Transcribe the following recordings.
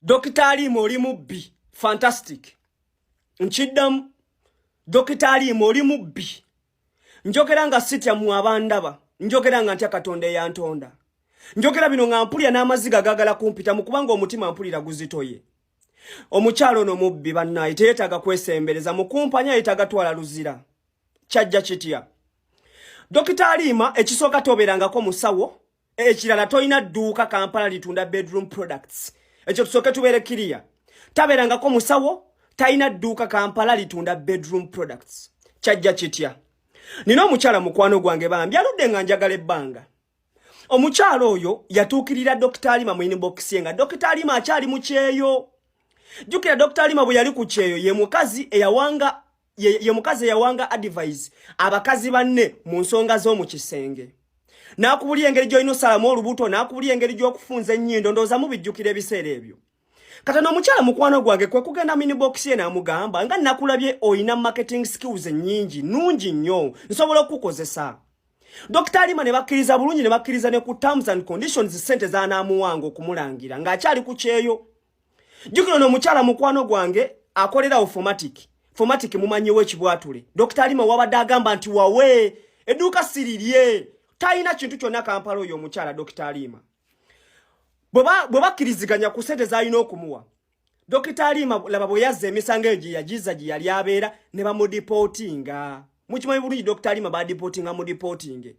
Dokita Alimu oli mubbi fantastic nkiddamu Dokita Alimu oli mubbi njogera nga sitya mu abandaba njogera nga ntya katonda eyantonda njogera bino nga mpulira n'amaziga gagala kumpita mu kubanga omutima mpulira guzitoye omukyalo ono mubbi bannaye teyeetaaga kwesembereza mukumpanya yeetaaga twala luzira kyajja kitya Dokita Aliima ekisooka tobeerangako musawo ekirala tolina dduuka kampala litunda bedroom products ekyo tusooke tubeere kiriya tabeerangako musawo talina dduuka kampala litunda bedroom products kyajja kitya nina omukyala mukwano gwange bambi aludde nga njagala ebbanga omukyala oyo yatuukirira dokita alima mu inibokisi ye nga dokita alima akyali mu kyeyo jjukira dokita alima bwe yali ku kyeyo ye mukazi eyawanga ye, ye mukazi eyawanga advise abakazi banne mu nsonga z'omu kisenge n'akubulira engeri gy'olina osalamu olubuto n'akubulira engeri gy'okufunza ennyindo ndowooza mubijjukira ebiseera ebyo kata n'omukyala mukwano gwange kwe kugenda minibokisi ye n'amugamba nga nakulabye olina marketing skills ennyingi nnungi nnyo nsobola okukukozesa Dr. Alima ne bakkiriza bulungi ne bakkiriza ne ku terms and conditions ssente z'anaamuwanga okumulangira ng'akyali ku kyeyo jukira no mukyala mukwano gwange akolera automatic formatic mumanyiwo ekibwatule dr alima wabadde agamba nti wawe eduuka sirirye talina kintu kyonna kampala oyo omukyala dr alima bwe bakkiriziganya ku sente zalina okumuwa dr alima laba bwe yazza emisango eyo gye yagiza gye yali abeera ne bamudipootinga mukimanyi bulungi dr alima badipootinga mudipootinge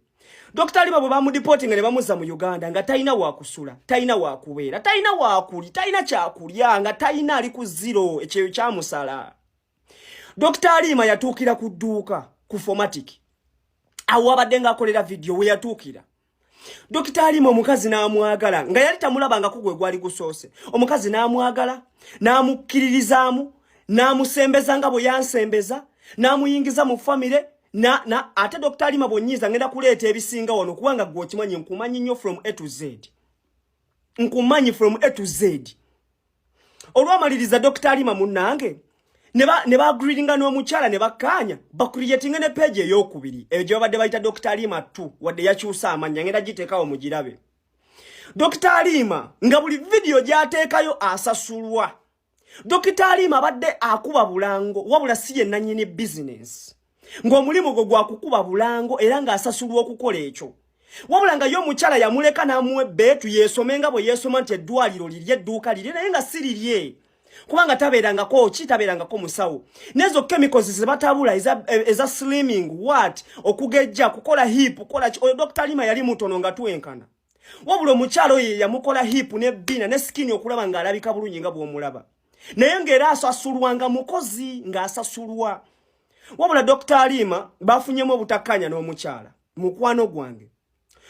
Dr. Liba bwa mudipoti ngale bamuza mu Uganda nga taina wa kusula, taina wa kuwera, taina wa kuli, taina cha kulya nga taina ali ku zero ekyeyo kya musala. Dr. Lima yatukira ku duka ku formatic. Awo abadde nga akolera video we yatukira. Dr. Lima omukazi n'amwagala nga yali tamulaba nga kugwe gwali gusoose. Omukazi n'amwagala, n'amukkiririzaamu, n'amusembeza nga bwe yansembeza, n'amuyingiza mu famire, na na ate Dr. Alima Bonyiza ngenda kuleeta ebisinga wano kubanga gwe okimanyi nkumanyi nnyo from A to Z nkumanyi from A to Z olwamaliriza Dr. Alima munnange ne ba ne ba greetinga n'omukyala ne bakkaanya ba creating ne page ey'okubiri eyo gye babadde bayita Dr. Alima tu wadde yakyusa amannya ngenda giteekawo mugirabe Dr. Alima nga buli vidiyo gyateekayo asasulwa Dokita Alima abadde akuba bulango wabula si ye nannyini bizinensi ng'omulimu gwe gwa kukuba bulango era ng'asasulwa okukola ekyo wabula nga ye omukyala yamuleka n'amuwa ebbeetu yeesome nga bwe yeesoma nti eddwaliro liri edduuka liri naye nga si lirye kubanga tabeerangako ki tabeerangako musawo nezo chemicals ze batabula eza, eza slimming wat okugejja kukola hip kukola oyo dr lima yali mutono nga twenkana wabula omukyalo ye yamukola hip ne bina ne skin okulaba nga alabika bulungi nga bwomulaba naye nga era asasulwa nga mukozi nga asasulwa wabula Dr. Alima bafunyemu obutakanya n'omukyala mukwano gwange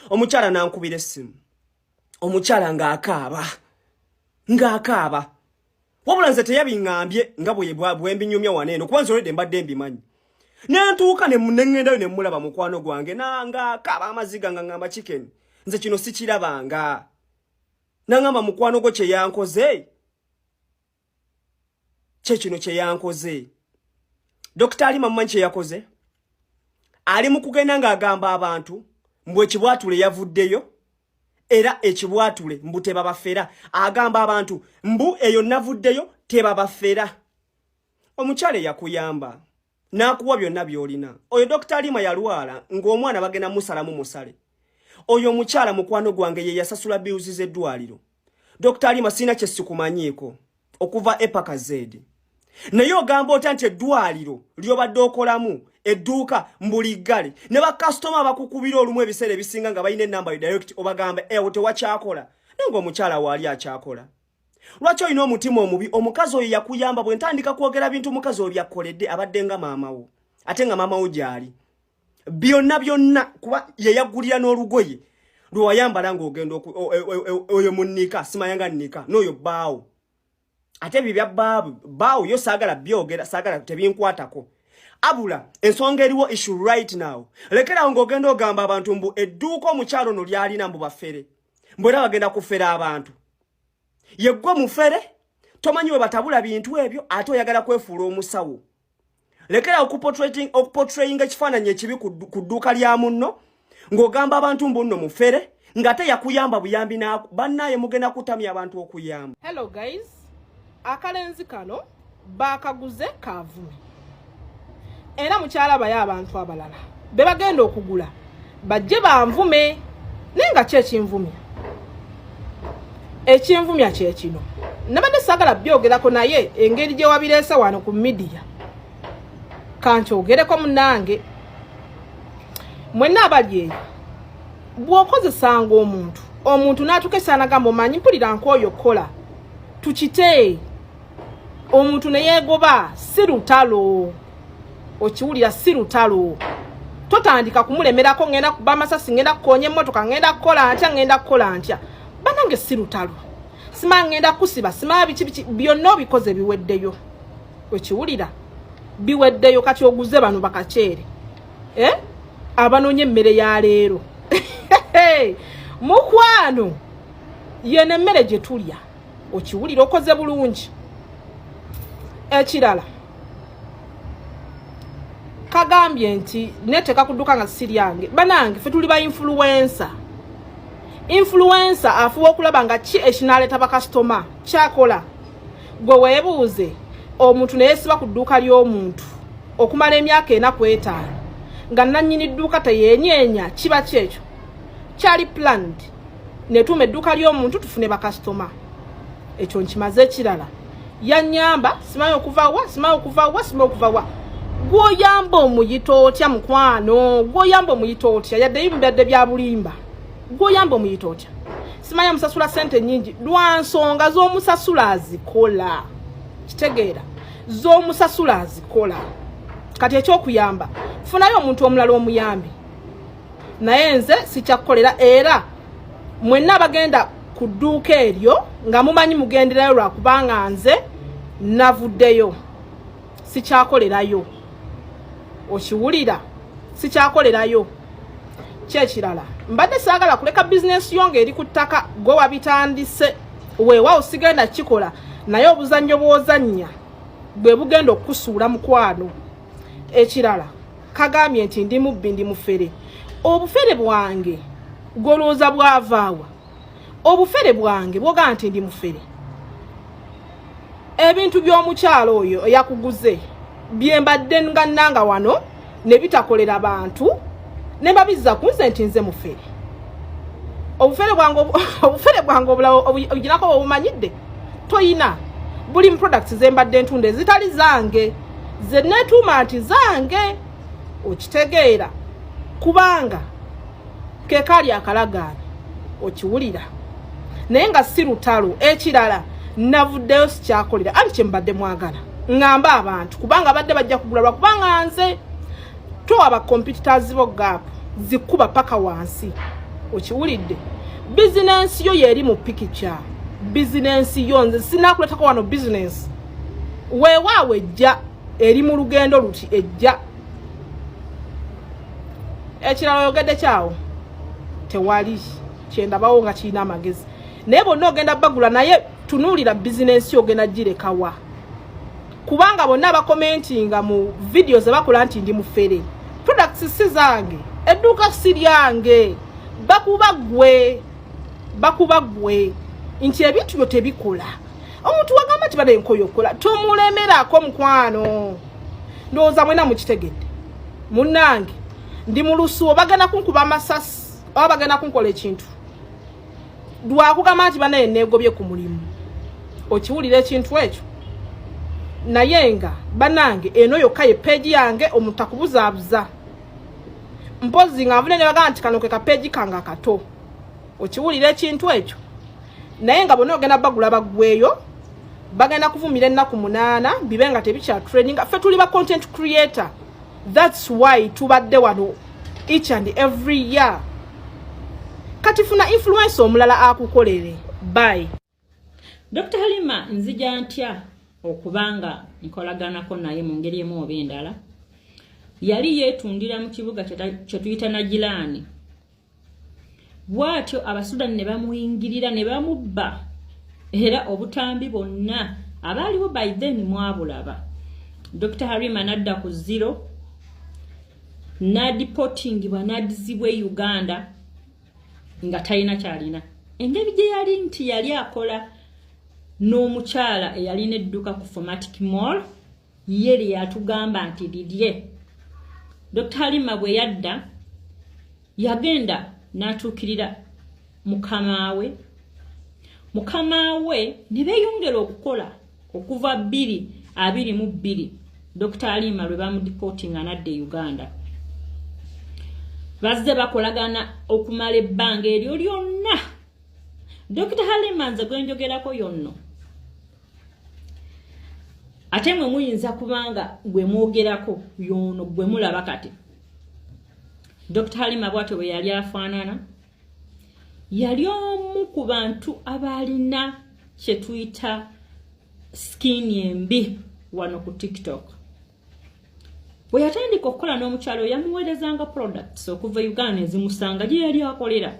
omukyala nankubira essimu omukyala ng'akaaba ng'akaaba wabula nze teyabiŋambye nga bwembinyumya wano eno kuba nzolede mbadde mbimanyi nentuuka neŋŋendayo ne mmulaba mukwano gwange nanga kaba amaziga nga ŋŋamba chicken nze kino sikirabanga naŋŋamba mukwano gwo kye yankoze kye kino kye yankoze dokita ali mamumanyi kye yakoze ali mu kugenda ng'agamba abantu mbu ekibwatule yavuddeyo era ekibwatule mbu tebabafera agamba abantu mbu eyo navuddeyo tebabafera omukyala eyakuyamba n'akuwa byonna by'olina oyo dokita alima yalwala ng'omwana bagenda musalamu musale oyo omukyala mukwano gwange ye yasasula biuzi z'eddwaliro dokita alima sirina kye sikumanyiiko okuva epaka zeedi naye ogamba otya nti eddwaliro lyobadde okolamu edduuka mbuli ggale ne bakasitoma abakukubira olumu ebiseera ebisinga nga balina enamba yo direct obagamba ewo eh, tewakyakola naye ngaomukyala waali akyakola lwaki olina omutima omubi omukazi oyo yakuyamba bwe ntandika kwogera bintu omukazi oyo byakkoledde abadde nga maamawo ate nga maamawo gyali byonna byonna kuba yeyagulira n'olugoye lwewayambala ng'ogenda e, e, e, oyo munnika simayanga nnika n'oyo bbaawo ate ebyo bya bbaabu bbaawo yo saagala byogera saagala tebinkwatako abula ensonga eriwo issue right now lekerawo ng'ogenda ogamba abantu mbu edduuka omukyalo no lyalina mbu bafere mbu era bagenda kufera abantu yeggwe mufere tomanyi we batabula bintu ebyo ate oyagala kwefuula omusawo lekera okupotrayinga ekifaananyi ekibi ku dduuka lya munno ng'ogamba abantu mbunno mufere ngate yakuyamba buyambi naku bannaye mugenda kutamya abantu okuyamba hello guys akalenzi kano baakaguze kaavumi era mukyalabayo abantu abalala be bagenda okugula bajje banvume naye nga kyekinvumya ekinvumya kyekino nabadde sagala byogerako naye engeri gyewabireese wano ku midiya kankyogereko munange mwenna abali eyo bwokozesanga omuntu omuntu natuka esanagamba omanyi mpulira nkooyo okukola tukite omuntu neyegoba si lutalo okiwulira si lutalo totandika kumulemerako ngenda kuba amasasi ngenda kukonya emmotoka ngenda kukola ntya ngenda kukola ntya banange si lutalo sima ngenda kusiba sima biki biki byonna obikoze biweddeyo okiwulira biweddeyo kati oguze bano bakaceere eh? abanoonya emmere ya leero mukwano yeno emmere gye tulya okiwulira okoze bulungi ekirala kagambye nti neteka kuduka nga siri yange banange fe tuli ba influencer influencer afuwa okulaba nga ki ekinaleta bakasitoma kyakola gwe webuuze omuntu naye siba ku dduuka ly'omuntu okumala emyaka ena kwetaano nga nannyini dduuka teyenyenya kiba kyekyo kyali planned netuuma edduuka ly'omuntu tufune bakasitoma ekyo nkimaze ekirala yanyamba simanyi okuva wa simanyi okuva wa simanyi okuva wa gwoyamba omuyita otya mukwano gwoyamba omuyita otya yaddeyo mubadde bya bulimba gwoyamba omuyita otya simanyi amusasula sente nyingi lwa nsonga z'omusasula azikola kitegeera z'omusasula azikola kati ekyokuyamba funayo omuntu omulala omuyambi naye nze sikyakukolera era mwenna abagenda ku dduuka eryo nga mumanyi mugenderayo lwakubanga nze navuddeyo sikyakolerayo okiwulira sikyakolerayo kyekirala mbadde saagala kuleka bizinesi yo ngaeri ku ttaka gwe wabitandise weewaawo sigenda kikola naye obuzannyo bw'ozannya bwe bugenda okukusuula mukwano ekirala kagambye nti ndi mubbi ndi mufere obufere bwange golwooza bwavaawa obufere bwange bwogaa nti ndi mufere ebintu by'omukyalo oyo eyakuguze byembadde nga nanga wano ne bitakolera bantu ne babizza ku nze nti nze mufere obufere bwange obulawo obuginako obumanyidde toyina buli products zembadde ntunda ezitali zange zenetuuma nti zange okitegeera kubanga kekaali akalagaano okiwulira naye nga si lutalo ekirala navuddeyo sikyakolera anti kyembadde mwagala ŋŋamba abantu kubanga badde bajja kugula lwakubanga nze towa ba competitors bo gap zikuba paka wansi okiwulidde bizinensi yo yeri mu pikica bizinensi yo nze sinakuletako wano bizinensi weewaawo ejja eri mu lugendo luti ejja ekirala oyogedde kyawo tewali kyendabawo nga kirina amagezi naye bonna ogenda bagula naye tunuulira bizinensi ogenda girekawa kubanga bonna bakomentinga mu vidiyo ze bakola nti ndi mufere products si zange edduuka si lyange bakuba gwe bakuba gwe nti ebintu byo tebikola omuntu wagamba nti bada enkoyo okukola tomulemerako mukwano ndowooza mwena mukitegedde munnange ndi mu lusuo bagenda kunkuba amasasi oba bagenda kunkola ekintu lwakugamba nti banaye negobye ku mulimu okiwulira ekintu ekyo naye nga banange eno yokka ye peegi yange omuntu akubuzaabuza mpozi nga nvune nebagamba nti kano ke kapeegi kange akato okiwulira ekintu ekyo naye nga bona ogenda bagula bagweyo bagenda kuvumira ennaku munaana bibe nga tebikya training ffe tuli ba content creator That's why tubadde wano each and every year. Kati funa influence omulala akukolere. Bye. Dr. Halima nzija ntya okubanga nkolaganako naye mu ngeri emu oba endala. Yali yeetundira mu kibuga kye tuyita Nagirani. bwatyo abasudani ne bamuyingirira ne bamubba era obutambi bonna abaaliwo by then mwabulaba dr harima nadda ku zero nadipotingibwa nadizibwa e uganda nga talina kyalina engeri gye yali nti yali akola n'omukyala eyalina edduka ku formatic mall ye lye yatugamba nti lirye dr halima bwe yadda yagenda n'atuukirira mukama we mukama we ne beeyongera okukola okuva bbiri abiri mu bbiri dr halima lwe bamudipootinga nadda e uganda bazze bakolagana okumala ebbanga eryo lyonna dr halima nze gwenjogerako yonno ate mwe muyinza kubanga gwe mwogerako yono gwe mulaba kati dr halima bwato bwe yali afaanana yali omu ku bantu abaalina kyetuyita skin embi wano ku tiktok bwe yatandika okukola n'omukyalo yamuweerezanga products okuva uganda ezimusanga gye yali akolera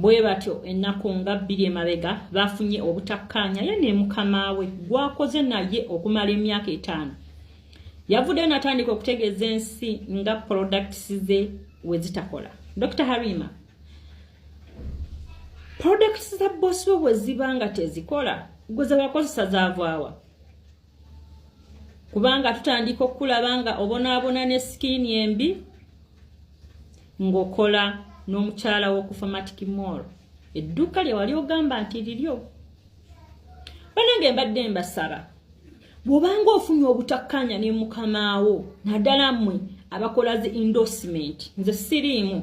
bwe batyo ennaku nga bbiri emabega baafunye obutakkaanya ye ne mukama we gwakoze naye okumala emyaka etaano yavuddeyo natandika okutegeeza ensi nga products ze we zitakola dr harima products za bosi we bwe ziba nga tezikola gwe zewakozesa zaavaawa kubanga tutandika okukulaba nga obonaabona ne sikiini embi ng'okola n'omukyala w'okufa matiki mool edduuka lye wali ogamba nti liryo banange mbadde mbasaba bw'obanga ofunye obutakkaanya ne mukamaawo naddala mmwe abakola zi endorsement nze siriimu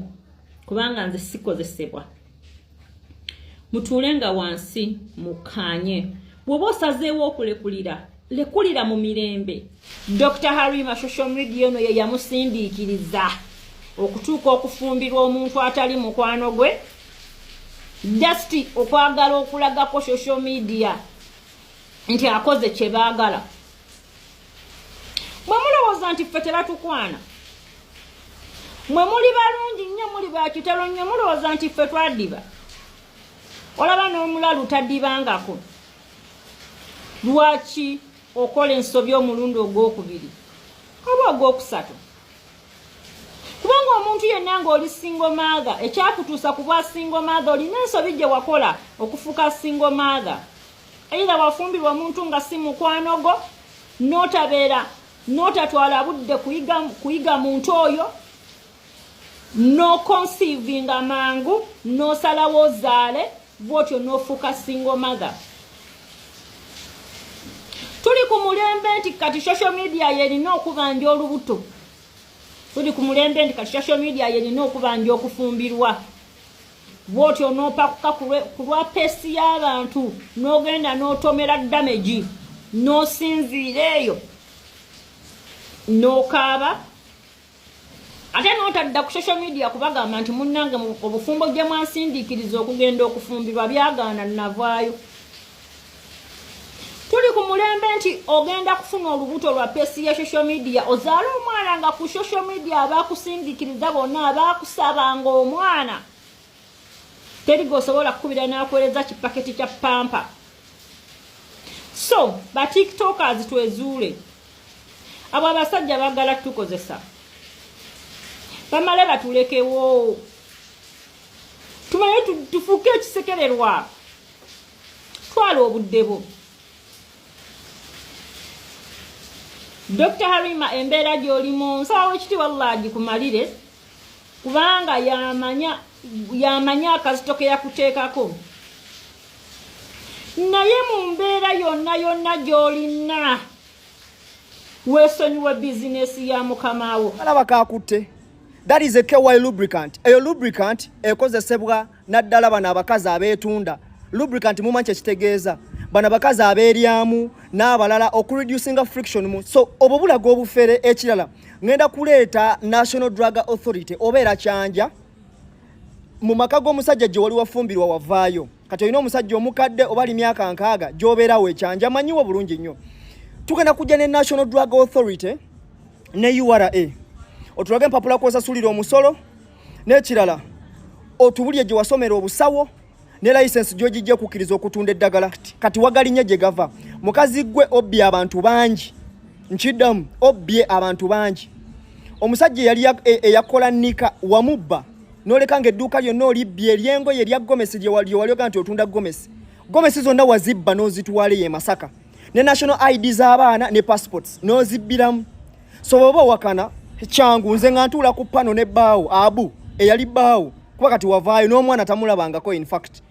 kubanga nze sikozesebwa mutuule nga wansi mukkaanye bw'oba osazeewo okulekulira lekulira mu mirembe dr harima social media ono ye yamusindiikiriza okutuuka okufumbirwa omuntu atali mukwano gwe just okwagala okulagako social media nti akoze kye baagala bwe mulowooza nti ffe tebatukwana mwe muli balungi nnyo muli bakitalo nnyo mulowooza nti ffe twadiba olaba n'omulalu tadibangako lwaki okola ensobi omulundi ogwokubiri oba ogwokusatu kubanga omuntu yenna ngaoli singomaathe ekyakutuusa ku bwa singomaathe olina ensobi gye wakola okufuuka singomaathe Either wafumbirwa omuntu nga si mukwano gwo n'otabeera n'otatwala budde kuyiga kuyiga muntu oyo n'okonsiivinga mangu n'osalawo ozaale bw'otyo n'ofuuka single mother. Tuli ku mulembe nti kati social media yerina okubanja olubuto. Tuli ku mulembe nti kati social media yerina okubanja okufumbirwa. bwoti onopakuka ku lwa pesi y'abantu n'ogenda n'otomera damegi n'osinziira eyo n'okaaba ate n'otadda ku social media kubagamba nti munnange obufumbo gye mwansindiikiriza okugenda okufumbirwa byagaana navaayo tuli ku mulembe nti ogenda kufuna olubuto lwa pesi ya social media ozaala omwana nga ku social media abakusindikiriza bonna abakusabanga omwana teri gweosobola kukubira nakuwereza kipaketi kya pampa so batiktokers twezuule abo abasajja bagala tukozesa bamale batulekewo tumaye tufuuke ekisekererwa twala obudde bwo dr harima embeera gyolimu nsaba wekitiibwa allah agikumalire kubanga yamanya yamanya akazito ke yakuteekako naye mu mbeera yonna yonna gy'olina weesonyiwe bizinesi ya mukama wo alaba kakutte that is a ky lubricant eyo lubricant ekozesebwa naddala bano abakazi abeetunda lubricant mumanyi kyekitegeeza bano abakazi abeeryamu n'abalala okureducinga friction mu so obwo bulaga obufere ekirala ngenda kuleeta national drug authority oba era kyanja mu maka g'omusajja gye wali wafumbirwa wavaayo kati olina omusajja omukadde oba ali myaka nkaaga gy'obeerawo ekyanja manyiwo bulungi nnyo tugenda kujja ne national drug authority ne ura otulage empapula kwosasulira omusolo n'ekirala otubulye gye wasomera obusawo ne layisensi gyogijja okukkiriza okutunda eddagala kati wagalinye gye gava mukazi gwe obbye abantu bangi nkiddamu obbye abantu bangi omusajja eyali e, eyakola nika wamubba noleka nga edduuka lyonna olibbye eryengoye erya gomesi lyewali oga nti otunda gomesi gomesi zonna wazibba n'ozitwala ye masaka ne national id z'abaana ne passports n'ozibbiramu so bwoba owakana kyangu nze nga ntuula ku pano ne baawo abu eyali baawo kuba kati wavaayo n'omwana tamulabangako in fact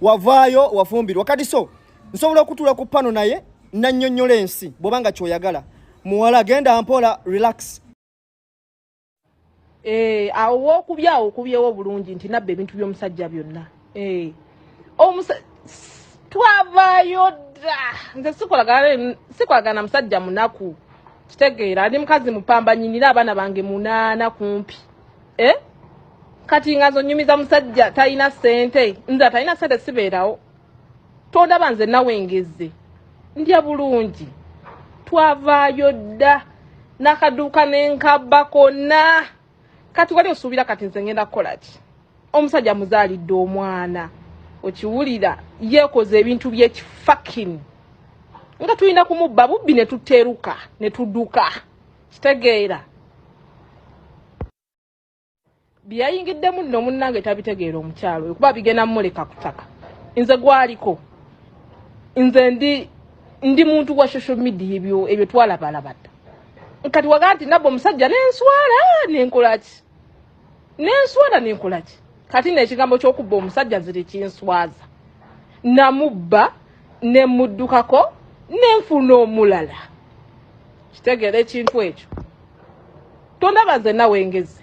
wavaayo wafumbirwa kati so nsobola okutuula ku pano naye nannyonnyola ensi bwobanga kyoyagala muwala genda mpola relax Eh, awo wokubye awo okubyewo bulungi nti nabba ebintu byomusajja byonna eh, twavayo dda nze sikolagana musajja munaku kitegeera ndi mukazi mupamba nyinira abaana bange munaana kumpi eh? kati nga nzonyumiza musajja talina sente nze atalina sente sibeerawo tondaba nze nawe ngeze ndya bulungi twavaayo dda nakaduuka nenkabba konna kati wali osuubira kati nze ngenda kukola ki omusajja muzaalidde omwana okiwulira yeekoze ebintu byekifakin nga tulina kumubba bubbi ne tuteruka ne tuduka kitegeera byeyayingiddemu nno munnange tabitegeera omukyalo oyo kuba bigenda mumuleka ku ttaka nze gwaliko nze ndi ndi muntu wa social media ebyo ebyo twalabalaba dda kati waga nti nabba omusajja nenswala nenkolaki nenswala nenkolaki kati neekigambo ky'okubba omusajja nze tekinswaza namubba nemuddukako nenfuna omulala kitegeera ekintu ekyo tondaba nze nawe ngezi